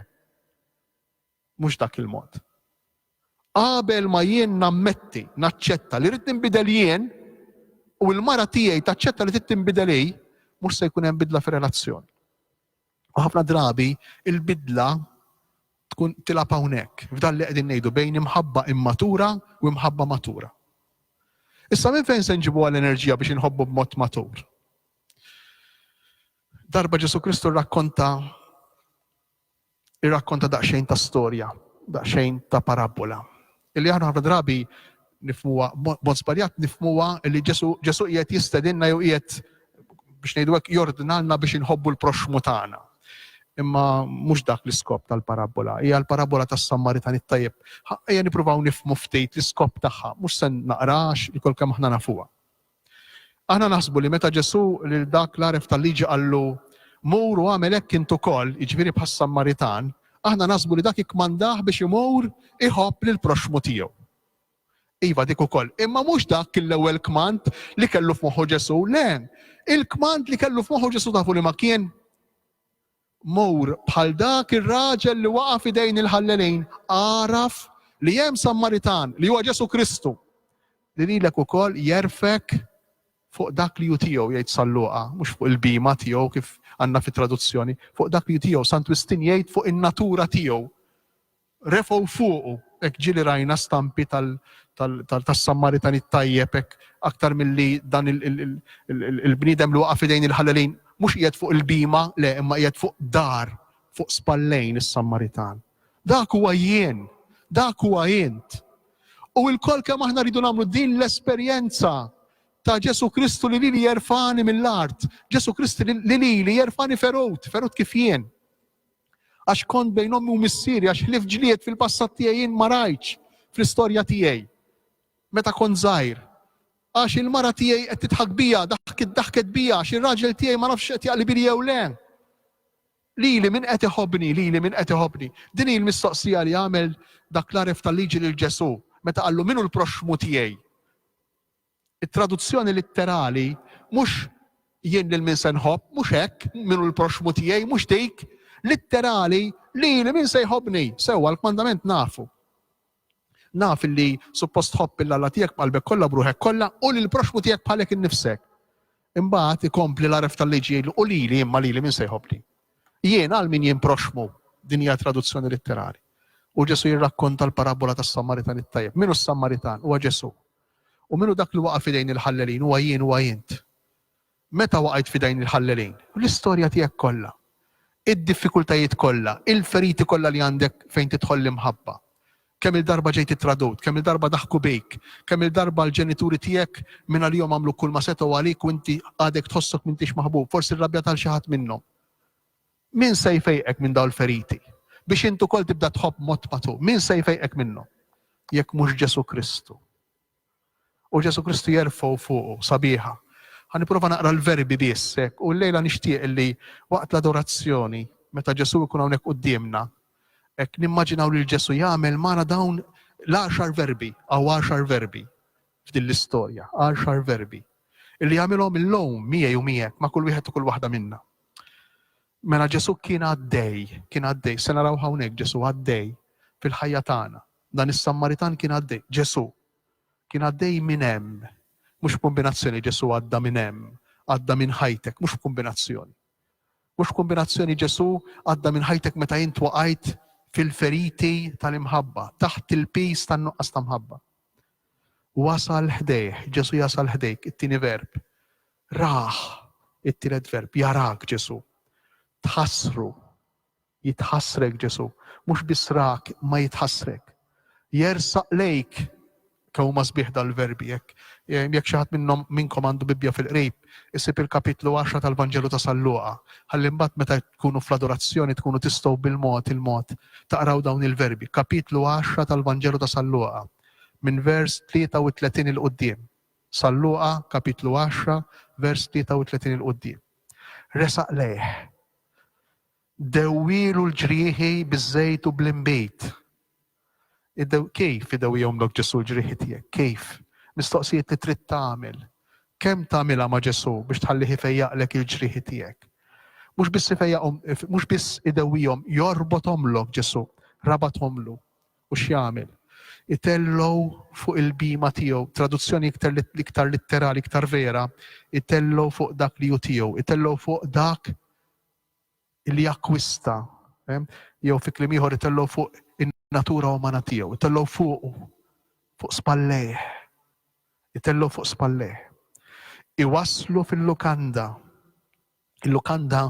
Mhux dak il-mod. Qabel ma jien nammetti, naċċetta li rrid ninbidel jien, u l-mara tiegħi taċċetta li trid tinbidel hi, mhux se jkun hemm bidla fir-relazzjoni. U ħafna drabi il-bidla tkun tilab hawnhekk, f'dan li qegħdin ngħidu bejn imħabba immatura u imħabba matura. Issa minn fejn se nġibu għall-enerġija biex inħobbu b'mod matur? Darba Ġesu Kristu rrakkonta irrakkonta daqsxejn ta' storja, daqsxejn ta' parabbola, illi aħna ħafna drabi nifmuha b'mod żbaljat nifmuha li Ġesu, Ġesu qiegħed jistedinna jew qiegħed biex ngħidu hekk jordnalna biex inħobbu l-proxxmu tagħna. Imma mhux dak l-iskop tal-parabbola, hija l-parabbola tas-Sammaritan it-tajjeb. Ejja nippruvaw nifmu ftit l-iskop tagħha, mhux se naqrax li kol kemm aħna nafuha. Aħna naħsbu li meta Ġesù lil dak l-għaref tal-liġi qallu, Mur u agħmel hekk int ukoll, jiġifieri bħas-Sammaritan, aħna naħsbu li dak ikkmandah biex imur iħobb lill-proxxmu tiegħu. Iva dik ukoll, imma mhux dak kien l-ewwel kmand li kellu f'moħħu Ġesù, le, il-kmand li kellu f'moħħu Ġesù tafu li ma kien? Mur bħal dak ir-raġel li waqa' f'idejn il-ħallelin, agħraf li hemm Sammaritan, li huwa Ġesù Kristu, li lilek ukoll jegħrfek fuq dak li hu tiegħu, jgħid San Luqa, mhux fuq il-bhima tiegħu kif għandna fit-traduzzjoni, fuq dak li hu tiegħu, Sant Wistin jgħid fuq in-natura tiegħu. Refgħu fuqu, hekk ġieli rajna stampi tal, tal, tal, tas-Sammaritan it-Tajjeb hekk aktar milli dan il, il, il, il, il, il-bniedem li waqa' f'idejn il-ħallelin mhux qiegħed fuq il-bhima, le, imma qiegħed fuq dar, fuq spallejn is-Sammaritan. Dak huwa jien, dak huwa int. U lkoll kemm aħna rridu nagħmlu din l-esperjenza ta' Ġesu Kristu li lili jerfani mill-art, Ġesu Kristu li lili jerfani ferut, ferut kif jien. Għax kont bejn ommi u missieri, għax ħlief ġlied fil-passat tiegħi jien ma rajtx fl-istorja tiegħi. Meta kont żgħir. Għax il-mara tiegħi qed tidħak bija, daħkit daħket bija, għax ir-raġel tiegħi ma nafx qed jaqli bili jew le. Lili min qed iħobbni, lili min qed iħobbni. Din hi l-mistoqsija li għamel dak l-għaref tal-liġi lil Ġesù meta qallu minu l-proxxmu tiegħi. It-traduzzjoni litterali mhux jien lil min se nħobb, mhux hekk, min hu l-proxxmu tiegħi, mhux dik. Litterali, lili min se jħobbni. Sewwa, l-kmandament nafu. Naf li suppost tħobb lil Alla tiegħek b'qalbek kollha, b'ruħek kollha u lill-proxxmu tiegħek bħalek innifsek. Imbagħad ikompli l-għaref tal-liġi jgħidlu u lili imma lili min se jħobbni. Jien għal min jien proxxmu din hija traduzzjoni litterali. U Ġesu jirrakkonta l-parabola tas-Samaritan it-tajjeb. Minu s-Samaritan? Huwa Ġesu. U min hu dak li waqa' f'idejn il-ħallelin? Huwa jien, huwa int. Meta waqajt f'idejn il-ħallelin? L-istorja tiegħek kollha. Id-diffikultajiet kollha, il-feriti kollha li għandek fejn tidħol l-imħabba. Kemm-il darba ġejt ittradut, kemm-il darba daħku bik, kemm-il darba l-ġenituri tiegħek mingħalihom għamlu kulma setgħu għalik u inti għadek tħossok m'intix maħbub, forsi rrabjat għal xi ħadd minnhom. Min se jfejqek minn dawn il-feriti, biex int ukoll tibda tħobb b'mod matur? Min se jfejqek minnhom, jekk mhux Ġesù Kristu? U Ġesù Kristu jerfgħu fuqu, sabiħa. Ħa nipprova naqra l-verbi biss hekk, u llejla nixtieq li waqt l-adorazzjoni, meta Ġesù jkun hawnhekk quddiemna, hekk nimmaġinaw lil Ġesù jagħmel magħna dawn l-għaxar verbi, hawn għaxar verbi f'din l-istorja, għaxar verbi, illi jagħmilhom illum miegħi u miegħek ma' kull wieħed u kull waħda minna. Mela Ġesù kien għaddej, kien għaddej, se narawh hawnhekk Ġesù għaddej fil-ħajja tagħna. Dan is-Sammaritan kien għaddej, Ġesù kien għaddej minn hemm. Mhux kombinazzjoni Ġesù għadda minn hemm, għadda minn ħajtek, mhux kombinazzjoni. Mhux kombinazzjoni Ġesù għadda minn ħajtek meta int waqajt fil-feriti tal-imħabba, taħt il-pis tan-nuqqas ta' mħabba. Wasal ħdejh, Ġesù jasal ħdejk, it-tieni verb. Rah, it-tielet verb, jarak Ġesù. Tħassru, jitħassrek Ġesù. Mhux biss rak, imma jitħassrek. Jersaq lejk, kemm huma sbieħ dal-verbi hekk. Eh, jekk xi ħadd minnhom minnkom għandu Bibbja fil-qrib, isib il-kapitlu 10 tal-Vanġelu ta' Salluqa. Ħalli mbagħad meta tkunu fl-adorazzjoni tkunu tistgħu bil-mod il-mod taqraw dawn il-verbi. Kapitlu 10 tal-Vanġelu ta' Salluqa. minn vers 33 'il quddiem, San Luqa kapitlu 10 vers 33 'il quddiem. Resaq lejh. Dewwielu l-ġrieħi biż-żejt u bl-inbid. Kif idewwihomlok Ġesu l-ġrieħi tiegħek? Kif? Mistoqsijiet li trid tagħmel. Kemm tagħmilha ma' Ġesu biex tħallih ifejjaqlek il-ġrieħi tiegħek? Mhux biss ifejjaqhom, mhux biss idewwihom, jorbothomlok Ġesu, rabathomlu. U x'jagħmel? Itellgħu fuq il-bhima tiegħu. Traduzzjoni iktar iktar litterali, iktar vera, itellgħu fuq dak li hu tiegħu, itellgħu fuq dak li akkwista, jew fi kliem ieħor itellgħu fuq in-natura umana tiegħu, itellgħu fuqu, fuq spallejh. Itellgħu fuq spallejh. Iwasslu fil-lukanda. Il-lukanda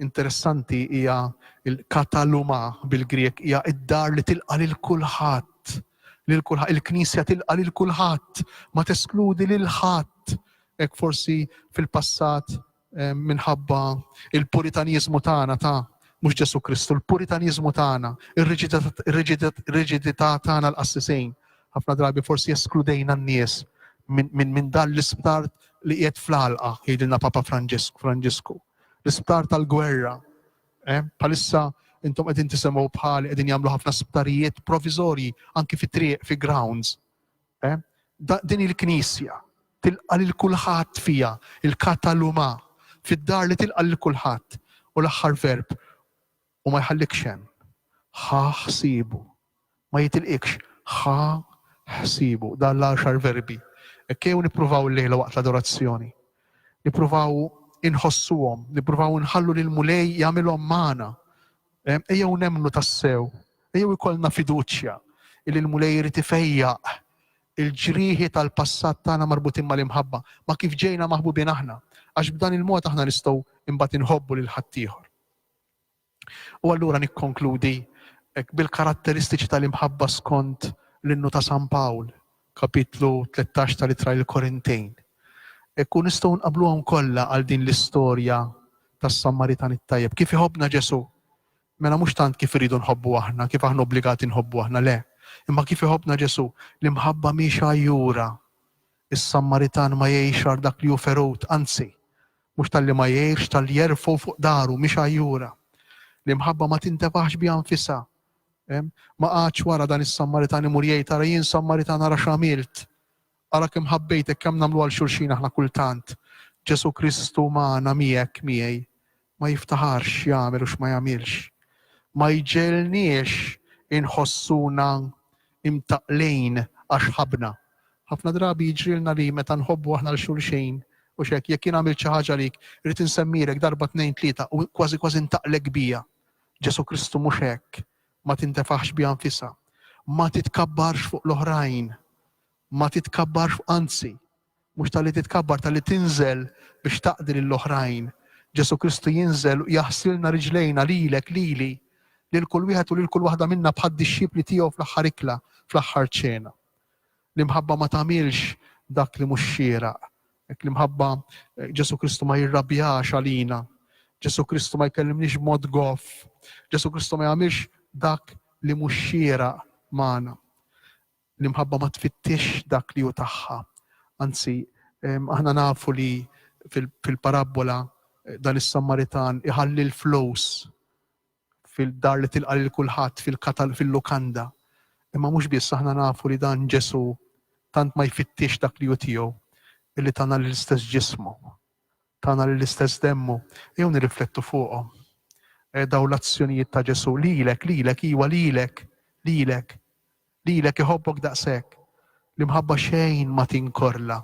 interessanti hija l-kataluma, bil-Grieg, hija d-dar li tilqa' lil kulħadd, lil kulħadd. Il-Knisja tilqa' lil kulħadd, ma teskludi lil ħadd. Hekk forsi fil-passat minħabba l-Puritaniżmu tagħna ta' mhux Ġesù Kristu, l-Puritaniżmu tagħna, ir-riġidità tagħna l-qassisejn, Ħafna drabi forsi eskludejna n-nies minn dan l-isptar li qiegħed fl-għalqa, jgħidilna Papa Franġisku. L-isptar tal-gwerra. Bħalissa intom qegħdin tisemgħu bħali qegħdin jagħmlu ħafna sptarijiet provizorji anki fi triq, fi grounds. Din il-Knisja tilqa' lil kulħadd fiha, il-kataluma, fid-dar li tilqa' lil kulħadd. U l-aħħar verb, U ma jħallikx hemm. Ħa ħsiebu. Ma jitilqikx. Ħa ħsiebu. Dawn l-għaxar verbi. Hekk ejjew nippruvaw illejla waqt l-adorazzjoni. Nippruvaw inħossuhom. Nippruvaw inħallu lill-Mulej jagħmilhom magħna. Ejjew nemmnu tassew. Ejjew ikollna fiduċja li l-Mulej irid ifejjaq il-ġrieħi tal-passat tagħna marbutin mal-imħabba, ma' kif ġejna maħbubin aħna, għax b'dan il-mod aħna nistgħu imbagħad inħobbu lil ħaddieħor. U allura nikkonkludi hekk bil-karatteristiċi tal-imħabba skont l-innu ta' San Pawl, kapitlu 13 tal-Ittra lill-Korintejn. Hekk u nistgħu nqabbluhom kollha għal din l-istorja tas-Sammaritan it-tajjeb. Kif iħobbna Ġesù? Mela mhux tant kif irridu nħobbu aħna, kif aħna obbligati nħobbu aħna, le. Imma kif iħobbna Ġesù? L-imħabba mhix għajjura. Is-Sammaritan ma jgħix għal dak li hu ferut, anzi, Mhux talli ma jgħirx, talli jerfgħu fuq daru, mhix għajjura. L-imħabba ma tintefaħx biha nfisha. Ma qagħadx wara dan is-Sammaritan imur jgħid, ara jien Sammaritan ara x'għamilt. Ara kemm ħabbejtek, kemm nagħmlu għal xulxin aħna kultant. Ġesù Kristu magħna, miegħek, miegħi. Ma jiftaħarx x'jagħmel u x'ma jagħmilx. Ma jġegħelniex inħossuna imtaqqlin għax ħabbna. Ħafna drabi jiġrilna li meta nħobbu aħna 'l xulxin, hux hekk, jekk jien għamilt xi ħaġa għalik, irrid insemmilek darba tnejn tlieta u kważi kważi ntaqlek biha. Ġesù Kristu mhux hekk, ma tintefaħx biha nfisha. Ma titkabbarx fuq l-oħrajn. Ma titkabbarx fuq anzi, Mhux talli titkabbar, talli tinżel biex taqdi lill-oħrajn. Ġesù Kristu jinżel u jaħsilna riġlejna, lilek, lili, lil kull wieħed u lil kull waħda minna bħad-dixxipli tiegħu fl-aħħar ikla, fl-aħħar ċena. L-imħabba ma tagħmilx dak li mhux xieraq. Hekk l-imħabba Ġesù Kristu ma jirrabjax għalina. Ġesù Kristu ma jkellimniex b'mod goff. Ġesù Kristu ma jagħmilx dak li mhux xieraq magħna. L-imħabba ma tfittixx dak li hu tagħha. Anzi, aħna nafu li fil-parabbola dan is-Sammaritan iħalli l-flus fil-dar li tilqa' lil kulħadd fil-lukanda. Imma mhux biss aħna nafu li dan Ġesù tant ma jfittixx dak li hu tiegħu illi tana l-istess ġismu, tana l-istess demmu. Jew nirriflettu fuqhom. Eh, daw l-azzjonijiet ta' Ġesù lilek, lilek, iwa lilek, lilek. Lilek iħobbok daqshekk. L-imħabba xejn ma tinkorla.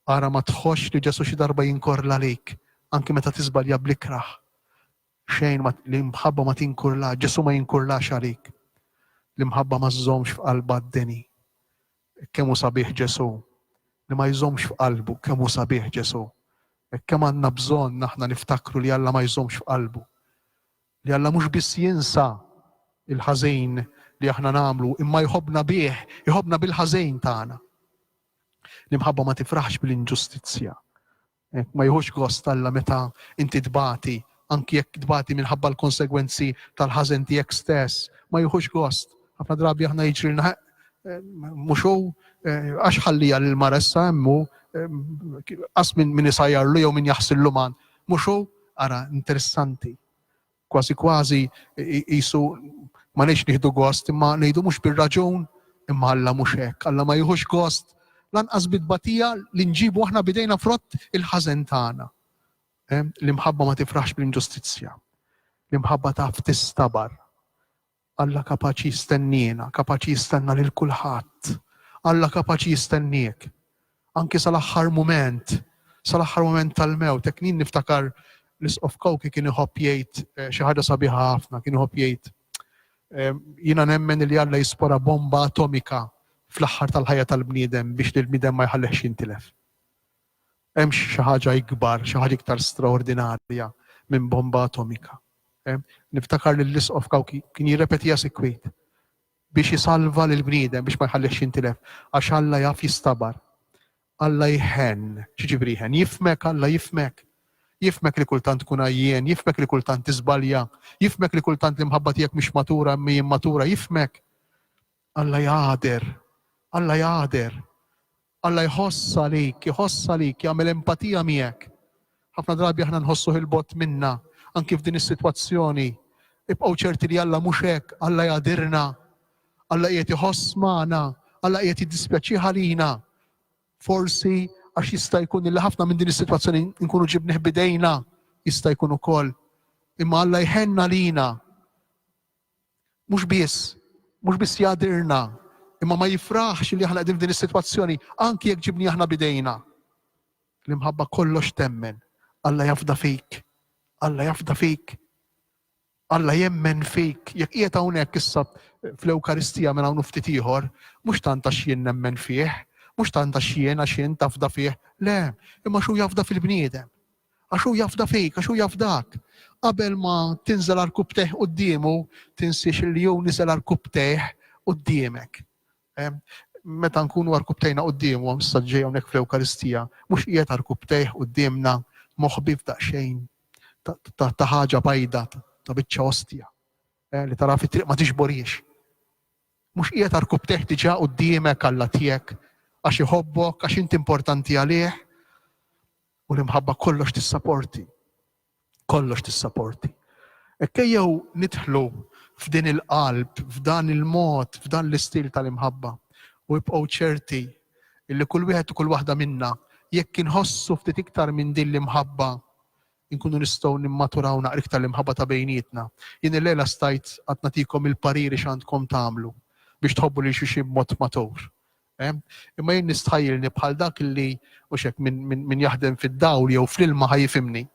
Ara ma tħossx li Ġesù xi darba jinkorla għalik, anki meta tiżbalja bl-ikrah. Xejn ma, l-imħabba ma tinkurlax, Ġesù ma jinkurlax għalik. L-imħabba ma żżommx f'qalbha d-deni. Kemm hu sabiħ Ġesù, li ma jżommx f'qalbu, kemm hu sabiħ Ġesù. Kemm għandna bżonn aħna niftakru li Alla ma jżommx f'qalbu. li Alla mhux biss jinsa l-ħażejn li aħna nagħmlu imma jħobbna bih, iħobbna bil-ħażejn tagħna. L-imħabba ma tifraħx bl-inġustizzja. Ma jħux gost Alla meta inti tbati, anki jekk tbati minħabba l-konsegwenzi tal-ħażen tiegħek stess, ma jħux gost. Ħafna drabi aħna jiġrilna eh, mhux hu eh, għax ħallija l-mara issa hemmu eh, qas minn min isajjarlu jew min jaħsillu man Mhux hu? Ara, interessanti. Kważi kważi qisu ma ngħidx nieħdu gost, imma ngħidu mhux bir-raġun, imma Alla mhux hekk. Alla ma jieħux gost lanqas bi tbatija li nġibu aħna b'idejna frott il-ħażen tagħna. L-imħabba ma tifraħx bl-inġustizzja. L-imħabba taf tistabar. Alla kapaċi jistenniena, kapaċi jistenna lil kulħadd. Alla kapaċi jistenniek. Anki sal-aħħar mument, sal-aħħar mument tal-mewt. Hekk jien niftakar l-Isqof Cauchi kien iħobb jgħid eh, xi ħaġa sabiħa ħafna, kien iħobb jgħid eh, jiena nemmen li Alla jispora bomba atomika fl-aħħar tal-ħajja tal-bniedem biex l bniedem ma jħallehx jintilef. Hemmx xi ħaġa ikbar, xi ħaġa iktar straordinarja minn bomba atomika. Niftakar li l-Isqof Kawki kien jirrepetiha sikwit biex isalva lill-bniedem biex ma jħallihx jintilef għax Alla jaf jistabar. Alla jħenn, x'jiġifieri jħenn? Jifhmek Alla, jifhmek. Jifhmek li kultant tkun għajjien, jifhmek li kultant tiżbalja, jifhmek li kultant l-imħabba tiegħek mhix matura imma hi immatura, jifhmek. Alla jagħder, Alla jagħder. Alla jħoss għalik, iħoss għalik, jagħmel empatija miegħek. Ħafna drabi aħna nħossuh 'il bogħod minna, anki f'din is-sitwazzjoni. Ibqgħu ċerti li Alla mhux hekk, Alla jgħadirna. Alla qiegħed iħoss magħna, Alla qiegħed jiddispjaċih għalina. Forsi għax jista' jkun li ħafna minn din is-sitwazzjoni nkunu ġibnih bidejna, jista' jkun ukoll. Imma Alla jħenna lina. Mhux biss, mhux biss jagħdirna, imma ma jifraħx li aħna qegħdin f'din is-sitwazzjoni, anki jekk ġibni aħna b'idejna. L-imħabba kollox temmen. Alla jafda fik. Alla jafda fik. Alla jemmen fik. Jekk qiegħed hawnhekk issa fl-Ewkaristija minn hawn ftit ieħor, mhux tant għax jien nemmen fih, mhux tant għax jien għax jien tafda fih, le, imma xu jafda fil-bniedem. Għax hu jafda fik, għax hu jafdak. Qabel ma tinżel għal rkubtejh quddiemu, tinsiex li hu niżel għal rkubtejh quddiemek. Meta nkunu għal rkubtejna quddiemu, għam saġġej hawnhekk fl-Ewkaristija, mhux qiegħed għal rkubtejh quddiemna moħbi f'daqsxejn ta' ħaġa bajda, ta' biċċa ostja, eh, li tara fit-triq ma tixboriex. Mhux qiegħed għal rkubtejh diġà quddiemek għalla tiegħek għax iħobbok, għax inti importanti għalih, U l-imħabba kollox tissaporti. Kollox tissaporti. Ekkejjew nidħlu f'din il-qalb, f'dan il-mod, f'dan l-istil tal-imħabba. U ibqgħu ċerti illi kull wieħed u kull waħda minna jekk inħossu ftit iktar minn din l-imħabba inkunu nistgħu nimmaturaw naqra iktar l-imħabba ta' bejnietna. Jien il-lejla stajt għad nagħtikom il-pariri x'għandkom tagħmlu biex tħobbu lil xi b'mod matur. Imma jien nistħajjilni bħal dak li, mhux hekk, min jaħdem fid-dawl jew fl-ilma ħa jifhimni,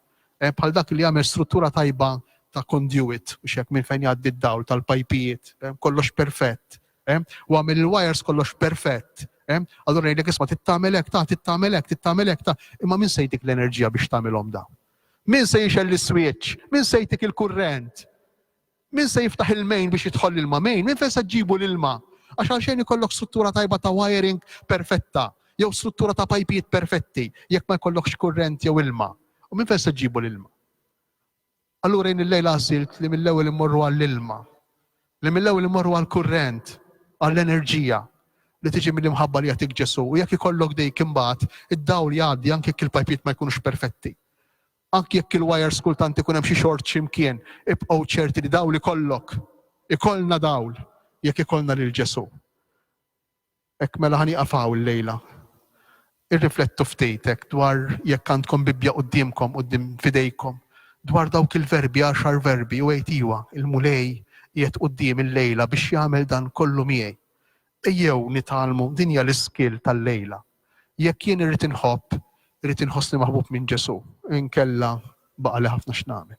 bħal dak li jagħmel struttura tajba ta' conduit, mhux hekk, minn fejn jgħaddi d-dawl, tal-pajpijiet, kollox perfett, u għamel il-wires kollox perfett, allura jgħidlek isma' trid tagħmel hekk, ta' trid tagħmel hekk, trid tagħmel hekk, ta', imma min se jtik l-enerġija biex tagħmilhom dawn? Min se jixgħel l-iswitch? Min se jtik il-kurrent? Min se jiftaħ il-main biex jidħol l-ilma? Main? Minn fejn se ġġibu l-ilma? Għax għalxejn ikollok struttura tajba ta' wiring perfetta jew struttura ta' pajpijiet perfetti jekk ma jkollokx kurrent jew ilma. U minn fejn se ġġibu l-ilma? Allura jien illejla għażilt li mill-ewwel immorru għall-ilma, li mill-ewwel immorru għall-kurrent, għall-enerġija li tiġi mill-imħabba li jagħtik Ġesù u jekk ikollok dik imbagħad id-dawl jgħaddi anke jekk il-pajpijiet ma jkunux perfetti. Anki jekk il-wajers kultant ikun hemm xi xort xi mkien, ibqgħu ċerti li dawl ikollok. Ikollna dawl jekk ikollna lil Ġesù. Hekk mela ħa nieqaf hawn illejla. Irriflettu ftit hekk dwar jekk għandkom Bibbja quddiemkom, quddiem f'idejkom, dwar dawk il-verbi, għaxar verbi, u għid iwa, il-Mulej qiegħed quddiemi llejla biex jagħmel dan kollu miegħi. Ejjew nitgħallmu, din hija l-iskill tal-lejla. Jekk jien irrid inħobb, irrid inħossni maħbub minn Ġesù, inkella baqali ħafna x'nagħmel.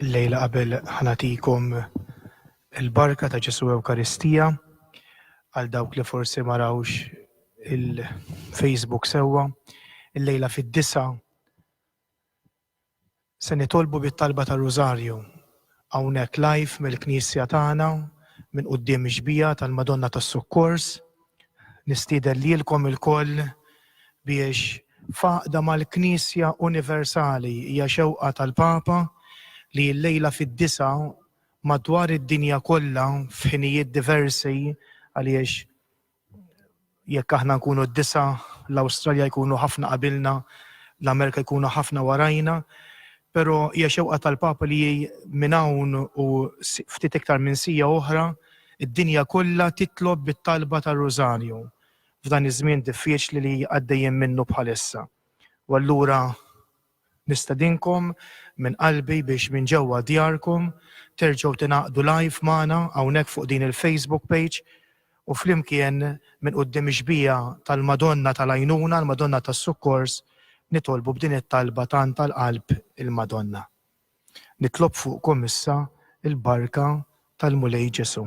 Illejla qabel ħa nagħtikom il-barka ta' Ġesù Ewkaristija, għal dawk li forsi ma rawx il-Facebook sewwa, illejla fid-disgħa Se nitolbu bit-talba tar-Rużarju hawnhekk live mill-knisja tagħna minn quddiem ix-xbieha tal-Madonna tas-Sukkors. Nistieden lilkom ilkoll biex f'għaqda mal-Knisja Universali hija xewqa tal-Papa li illejla fid-disgħa madwar id-dinja kollha f'ħinijiet diversi għaliex Jekk aħna nkunu d-disgħa, l-Awstralja jkunu ħafna qabilna, l-Amerika jkunu ħafna warajna, però hija xewqa tal-Papa li minn hawn u ftit iktar minn siegħa oħra, id-dinja kollha titlob bit-talba tar-Rużarju f'dan iż-żmien diffiċli li għaddejjin minnu bħalissa. U allura. Nistedinkom minn qalbi biex minn ġewwa djarkom terġgħu tingħaqdu live magħna hawnhekk fuq din il-Facebook page u flimkien minn quddiem ix-xbieha tal-Madonna tal-Għajnuna, l-Madonna tas-Sukkors, nitolbu b'din it-talba tant għall-qalb il-Madonna. Nitlob fuqkom issa l-barka tal-Mulej Ġesù.